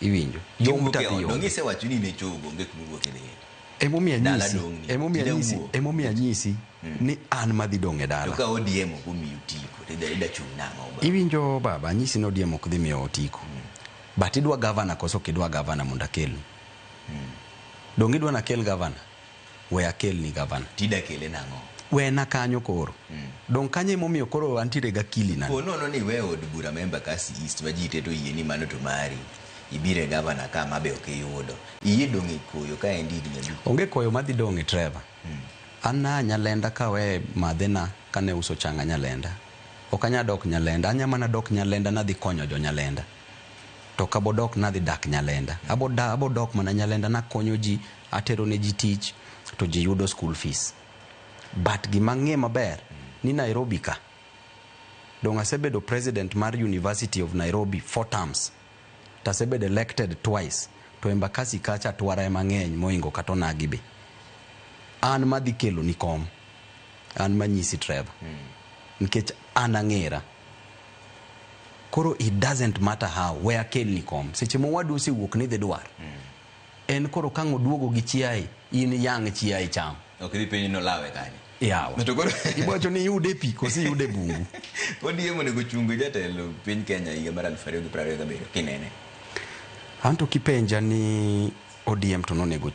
iwinjo dong' tadhi onge donge isewacho ni ne chogo onge kuma wuok idhi emomiyo Dala anyisi dong'ni. emomiyo Ida anyisi wuo. emomiyo anyisi ni an madhi dong' e to dala ka odiemo omiyo tiko to ida ida chung' nang'o ba iwinjo baba anyisi ni odiemo ok dhi miyo otiko but idwa gavana koso ok idwa gavana mondo akelni donge idwa nakel gavana we akelni gavana. Tida kele nang'o? Wena kanyo koro. Mm. Dong kanyo emomiyo koro antiere ga kili na. Ponono ni we od bura ma Embakasi East ma ji teto yie ni mano to mari. Ibire gavana ka ma be ok iyudo. Iye dong e koyo ka endi higni abich. Onge koyo ma dhi dong e Trevor. Mm. An na nyalenda ka we madhe na ka ne uso changa nyalenda. Ok anya dok nyalenda. Anya mana dok nyalenda na dhi konyo jo nyalenda. To kabodok na dhi dak nyalenda. Abodok mana nyalenda na konyo ji. Atero ne ji tich to ji yudo school fees. But gima ang'e maber ni Nairobi ka, donge asebedo president mar University of Nairobi four terms, to asebedo elected twice, to Embakasi kacha twara ema ng'eny mohingo kata onagi be. An madhi keloni kom, an manyisi Trevor, nikech an ang'era. Koro it doesn't matter how, we akelni kom. Seche ma owadu osewuok ni idhi dwar, En koro kang' oduogo gi chiaye, in iyang' chiaye icham. Ok idhi penje ni olawe kanye. Yawa. To koro. Ibo wacho ni iyude e pi koso iyude e bungu. ODM onego ochung jatelo piny Kenya higa mar aluf ariyo gi prariyo gabiriyo kinene. Anto kipenja ni ODM to nonego ochung.